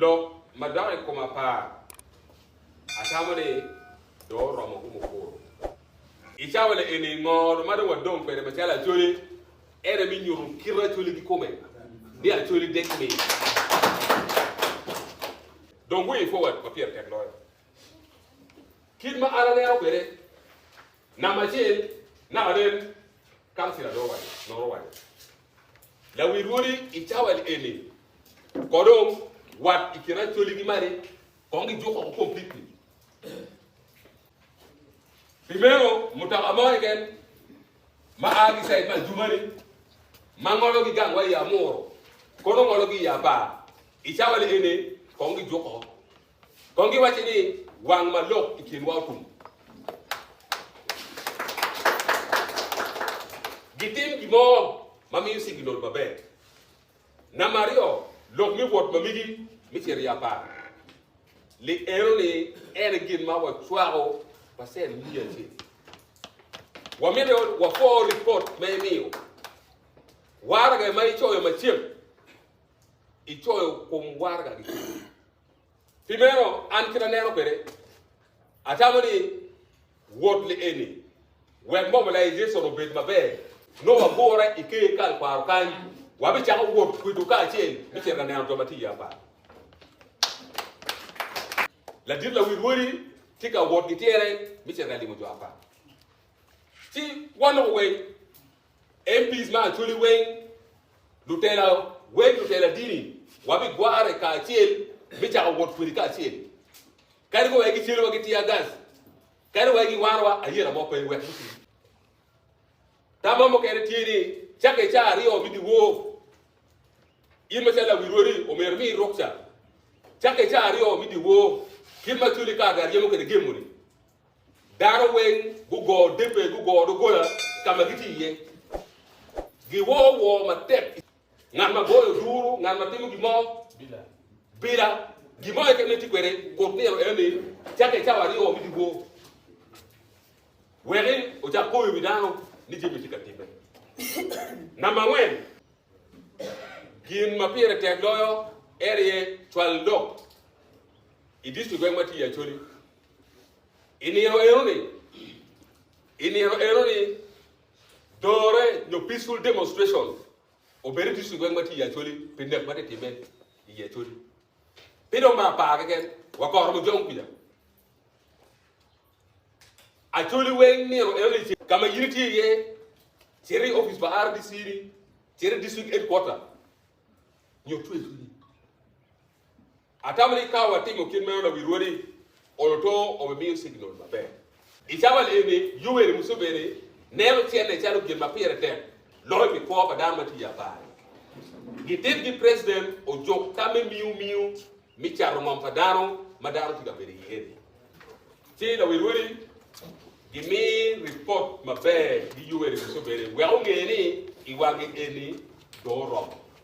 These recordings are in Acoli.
Lok ma dok i kom apar, atamo ni dong oromo kumo kuro. I cawa le eni, ngoro ma dong wadong kwede macalo Acholi en aye me nyuto kite Acholi kikome ni Acholi dek ni dong way forward ma pire tek loyo kit ma an aneno kwede. Namba acel, naka nen kansila nongo owaco, Lawi lwodi i cawa eni ko dong wat i kin Acholi ki Mari kong gijuk oko completely. Pi meno, mutoka mo keken ma a ki side me Adjumani ma ngologi gang wa i Amuru kono ngologi i Apar i cawa eni kong gijuk oko. Kong giwacci ni, Wang ma lok i kinwa otum. Gitim gin mo ma miyo cing ginodo maber. Namba aryo, lok me wot ma migi me cito i apar. Lik eno ni en aye gin ma wacwako pacen miya acel. Wamito wapwo ripot ma imiyo. Waraga ma icoyo macen, icoyo kom waraga kicel. Pi meno, an kit aneno kwede, atamo ni wot lieni wek momo Laijeson obed maber, nongo wagure i ker kal kwaro kany, wabicako wot kwido kacel me cito ka neno jo ma tye iye apar. Ladit lawi rwodi tye ka wot gityere me cito ka limo jo apar. Ci wanoko weng MPs ma Acholi weng, lutela weng, lutela dini wa bi gware ka acel me cako wot kwedi ka acel. Kadi wa egi celo wa gi tear gas, kadi wa egi waro wa ayera mo pe wek muti. Tama mukene tye ni cake ca aryo me diwor, in macalo lawil wodi omyero imi rukca cake ca aryo me diwor kit ma Acholi kato aryemo kwede gemo ni. Dano weng gugo debe, gugo doggola ka ma gitye iye, giwo woo matek. Ngat ma goyo duru, ngat ma timo gin mo bila, gin mo keken ma itye kwede kut nino enoni, cakke cawa aryo ni giwo. Weki ocak poyo i wi dano ni jami tye ka timme. Namba angwen, gin ma pire tek loyo en aye cwalo lok i distrik weng ma tye iye Acholi. I nino eno-ni, i nino eno-ni, dore nyo peaceful demonstration obedo tic i gweng ma tye i Acholi pi nek ma tye timme i Acholi. Pi dong me apar keken, wakoro mujong kwica. Acholi weng nino eno-ni ce ka ma in itye iye, cito i ofice pa RDC-ni, cito i district headquarter, nyo twe cwinyi. Atamo ni ka watimo kit meno, lawi rwodi oloto obimiyo signal maber. I cawa eni, Yoweri Museveni neno cente calo gin ma pire tek loyo pi kwo pa dano ma tye i abare. Gititgi president ojuko ka me miyo miyo me cato ngom pa dano ma dano tye ka bedo iye-ni, ci lawi rwodi gimi ripot maber gi Yoweri Museveni wek onge ni i wange eni dong oromo.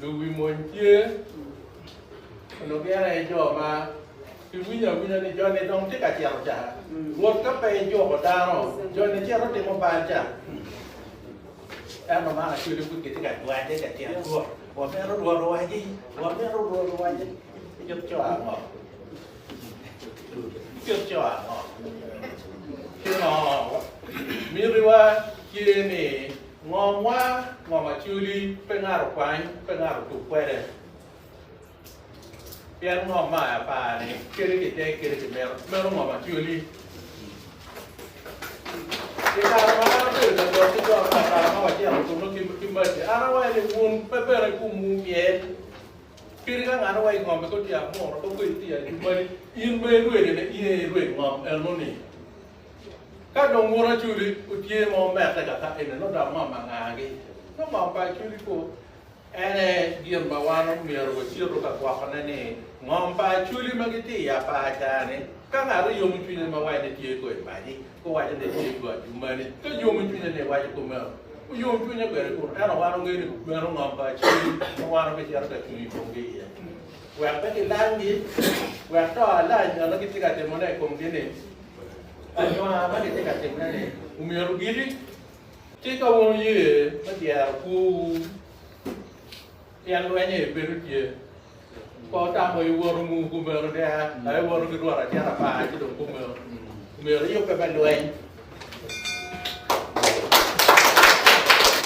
Lubi mony tye onongo gin aye jo ma giwinyo awinya ni joni dong tye ka cito ca. Rwot ka pe ejuko dano, joni cito timo bal ca. Ento man aco ni pud gitye ka jwanye ka tyen Rwot. Wamito Rwot owaci, wamito Rwot owaci. Kit co ango? Kit co ango? Pingo mitiwa tye ni Ngomwa, ngom aculi, pe ngato kwany, pe ngato tug kwede. Pien ngom ma aye apar-ni, kadi kitek kadi kimito, meno ngom aculi. I kare ma an abedo ka jok ki jok pa kare ma wacito kunnu ki maci, an awaco ni, Wun pe bene ikumwu myel, kadi ka ngat awaco i ngomi koti amuru, ka kodi iti ajumbali, in ma irwedone, in aye irwed ngom eno-ni. Ka dong wun Acudi wutye ma wumette kaka eni, nongo dok mam angagi? Nongo mam pa Acudi kwo? En aye gin ma wan omyero wacitu ka gwokone ni, ngom pa Acudi ma gitye i apaca-ni, ka ngat oyomo cwinye ma waco ni tye kwo i paci, guwaco ni tye kwo ajumani. Ka yomo cwinye ni iwaco kumeno, wuyom cwinya kwede kunu. Ento wan wangeyo ni meno ngom pa Acudi ma wan wabicito ka cung i komgi iye, wek pe gilamgi, wek to alany ma gitye ka timone i komgi-ni Anyona ma gitye ka timme-ni omyero giti ci ka wun wuye me dyero kwowu tyen lweny-nyi bedo tye. Pe wutamo i woto ngu kumeno ki a ka iwoto ki rwot acel apar ci dong kumeno omyero iyubbe me lweny.